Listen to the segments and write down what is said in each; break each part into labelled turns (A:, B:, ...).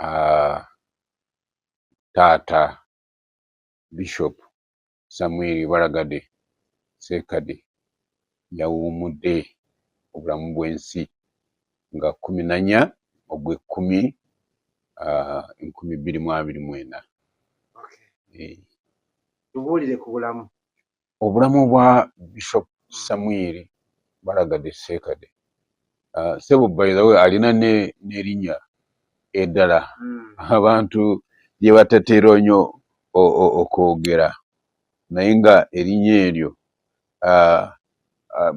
A: uh, taata bishop samuel balagade sekade yawumudde obulamu bw'ensi nga kumi nanya ogw'ekkumi uh, enkumi bbiri mu abiri mwena
B: tubuulire ku bulamu obulamu
A: bwa bishop samwiri balagadde seekade ah, sebo baithewe alina nerinya eddala hmm. abantu lyebatatera nyo okwogera naye nga erinya eryo ah, ah,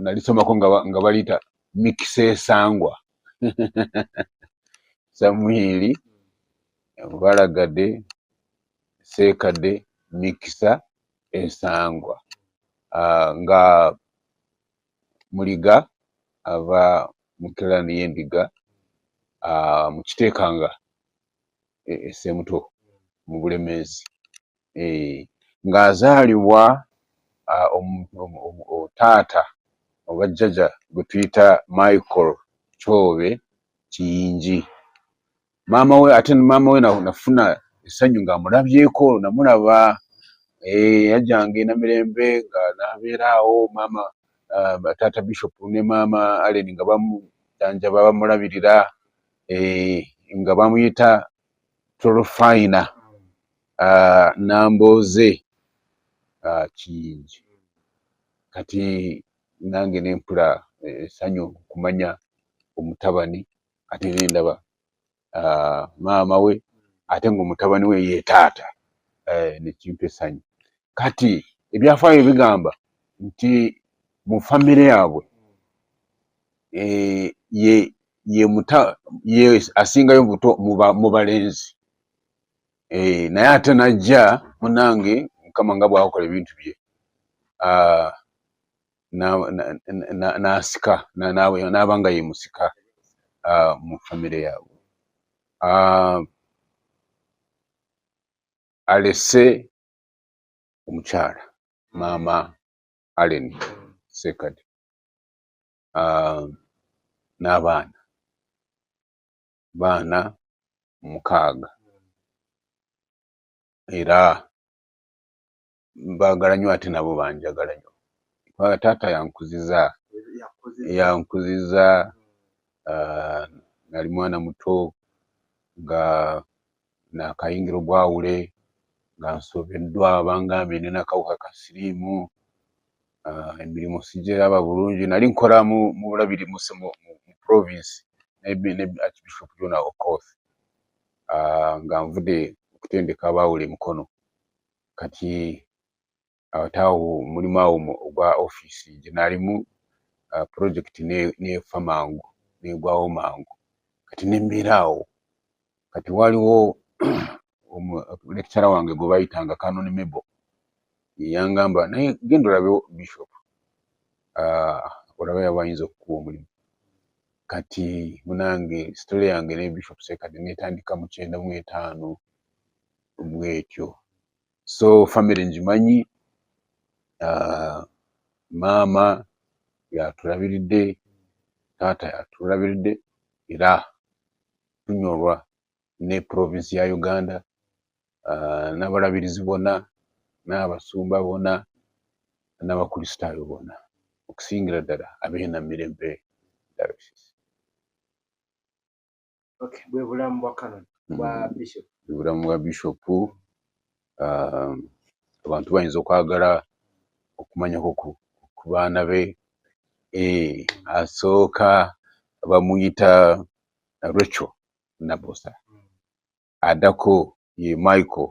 A: nalisomako nga baliyita mikisa esangwa samwiri balagade seekade mikisa ensangwa ah, nga muliga ava mu kirani y'endiga ah, mu kiteekanga esemuto e, mu bulemeezi eh, ng'azaalibwa ah, taata oba jjaja gwe tuyita michael kyobe kiyingi maama we ate maama we nafuna essanyu ng'amulabyeko namulaba eh, yajjanga ena mirembe nga nabeera awo maama ah, taata bishop ne maama allen nga bamujanjaba bamulabirira eh, nga bamuyita tolofayina ah, nambooze ah, kiyingi kati nange nempula essanyu kumanya omutabani kati nze ndaba ah, maama we ate nga omutabani we ye taata eh, nekimpa essanyu kati ebyafaayo bigamba nti mu famire yaabwe eh, ye ye muta ye asingayo buto mu balenzi eh, naye ate najja munange mukama nga bwakola ebintu bye ah, n'asika n'aba nga ye musika ah, mu famire yaabwe ah, alese omukyala maama allen sekadi ah, n'abaana baana mukaaga era mbagala nyo ate nabo banjagala nyo kubanga taata yankuziza yankuziza ah, nali mwana muto nga nakayingira obwawule nga nsobeddwa bangambye ne nakawuka ka siriimu ah, emirimu sigiraba bulungi nali nkola mu bulabiri mu province ne archbishop jona okoth ah, nga nvude okutendeka abawule mukono kati awataawo mulimu awo ogwa ofiisi gye naalimu uh, pulojekiti neefa mangu neegwawo mangu kati nembeera awo kati waliwo lekitala wange gwe bayitanga canon mebo yeyangamba naye genda olabe bishop uh, olaba yaba ayinza okukuwa omulimu kati munange sitole yange ne bishop sekadi netandika mukyenda mu etaano bwetyo so family ngimanyi uh, maama yatulabiridde taata yatulabiridde era tunyolwa ne provinsi ya uganda uh, n'abalabirizi bona n'abasumba bona n'abakristaayo bona okusingira ddala abeena mirembe diocese
B: okay bwe bulamu bwa canon mm. bwa bishop bwe bulamu bwa bishop
A: um, abantu bayinza okwagala okumanya ku baana be eh, asooka bamuyita rachel nabosa mm. adako ye michael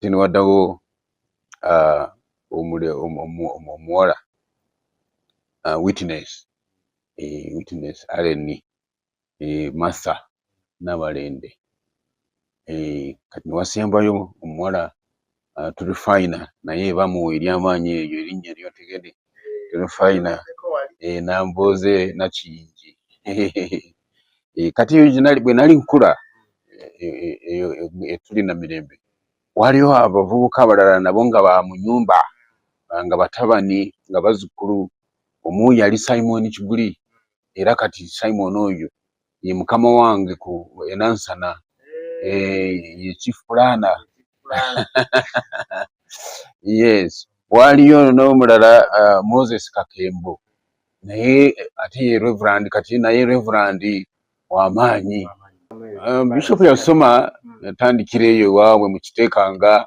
A: tini wadawo uh, omule omuwala uh, witness eh, witness areni eh, masa nabalende eh, kati niwasembayo omuwala uh, tuli fina naye bamuwa eryamaanyi eyo erinnya eryotegede tuli fayina eh, nambooze nakiyingi eh, kati eyo bwe nali nkula eyo etuli na mirembe waliwo abavubuka abalala nabo nga ba mu nyumba nga batabani nga bazzukulu omu yali simoni kiguli era kati simoni oyo ye mukama wange ku enansana eh, ye chief planner yes waliyo n'omulala uh, moses kakembo naye ate ye reverand kati naye reverand wamaanyi um, bishop yasoma yatandikira eyo ewaabwe mukiteekanga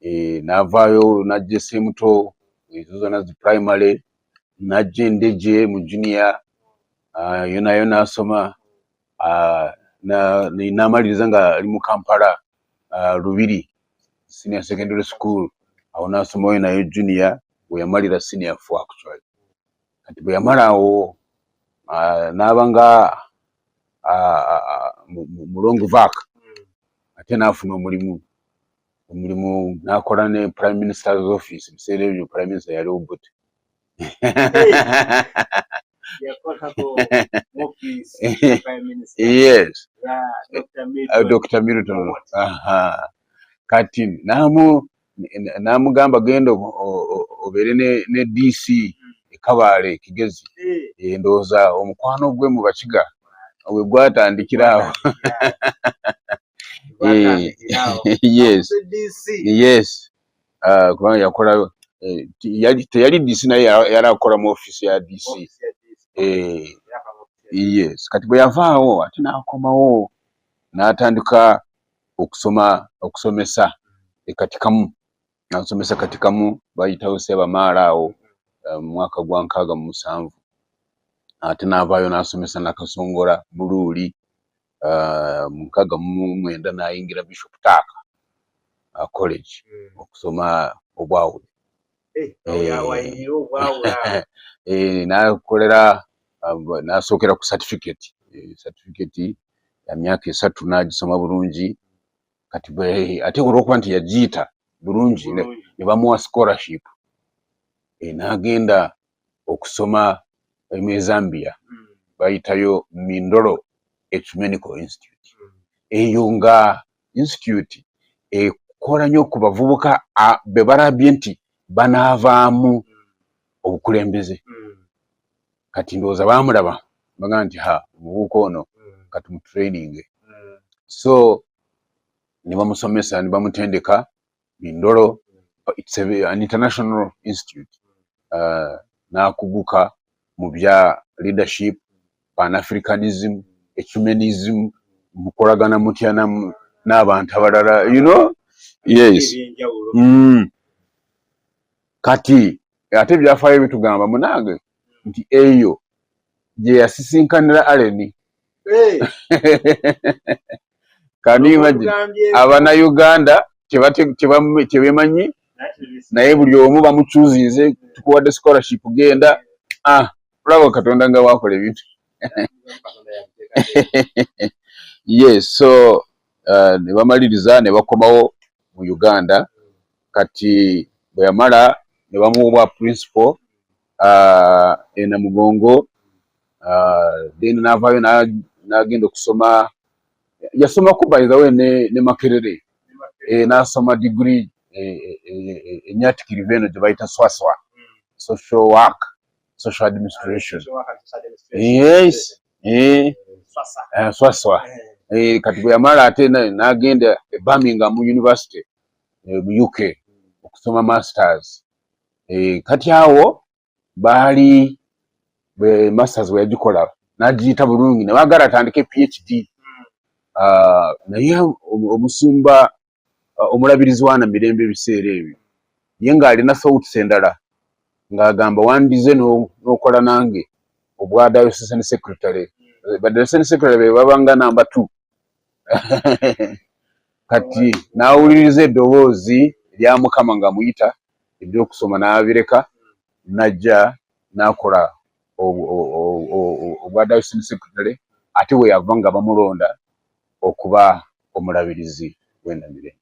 A: eh, n'avaayo najja esemuto ezo zona zi primary najja endeje mu junia ah, yona yona asoma ah, namaliriza nga ali mu kampala ah, lubiri senior secondary school awo nasoma oyo nayo junia weyamalira senior four actually kati bweyamala awo naaba nga mulongo vak ate nafuna omulimu omulimu nakola ne prime minister's office biseera ebyo prime minister yali obut yes dr uh, milton kati namu namugamba genda obeere ne dc ekabaale kigezi eh. endowooza omukwano gwe mu bakiga we gwatandikiraawo eh, yes yes ah, kubanga yakola eh, teyali DC naye yali akola mu office ya DC eh, yes kati bwe yavaawo ate n'akomawo n'atandika okusoma okusomesa ekatikamu nansomesa katikamu bayitawo sebamaala awo eh, mwaka gwa nkaaga mu musanvu ate navaayo nasomesa nakasongola buluuli uh, mu nkaaga mu mwenda nayingira bishop taaka uh, college mm. okusoma obwawule eh, eh, nakolera nasookera ku certificate certificate ya myaka esatu nagisoma bulungi kati ate olwokuba nti yagiyita bulungi ne bamuwa scholarship e, n'agenda okusoma mu ezambiya hmm. bayitayo mindolo ecumenical institute hmm. eyo nga institute ekola nyo ku bavubuka bebalabye nti banaavaamu hmm. obukulembeze kati ndowooza bamulaba baga nti ha omubuuka ono kati mutraininge so nibamusomesa nibamutendeka bindolo it's a, an international institute uh, nakuguka mu bya leadership pan africanism ecumenism mukolagana mutya n'abantu abalala you know yes mm. kati ate ebyafaayo bitugamba munange nti eyo gye yasisinkanira aleni kanimagi abana uganda kyebemanyi naye buli omu bamucuzinze tukuwadde scholarship genda ah, olaba katonda nga wakola ebintu yes so uh, nebamaliriza nebakomawo mu uganda kati bweyamala nebamuwa principal uh, e Namugongo uh, then navaayo nagenda okusoma yasomako by the way ne, ne Makerere e, nasoma digiri enyatikirivu e, e, e, eno gye bayita swaswa social work social administration yes eh, eh, swaswa eh, eh, kati bwe yamala ate nagenda e Birmingham University eh, mu UK okusoma masters eh, kati awo baali eh, masters weyagikola nagiyita bulungi nebagala atandike phd hmm. ah, naye omusumba ah, omulabirizi wana mirembe ebiseera ebyo ye ng'alina thoughts endala ng'agamba wandize n'okola nange obwa diocesane secretary eh, badiocesane secretary be babanga namba two kati n'awuliriza eddoboozi erya mukama nga muyita eby'okusoma n'abireka n'ajja n'akola obwa dayosini sekretary ate bwe yava nga bamulonda okuba omulabirizi w'enamirembe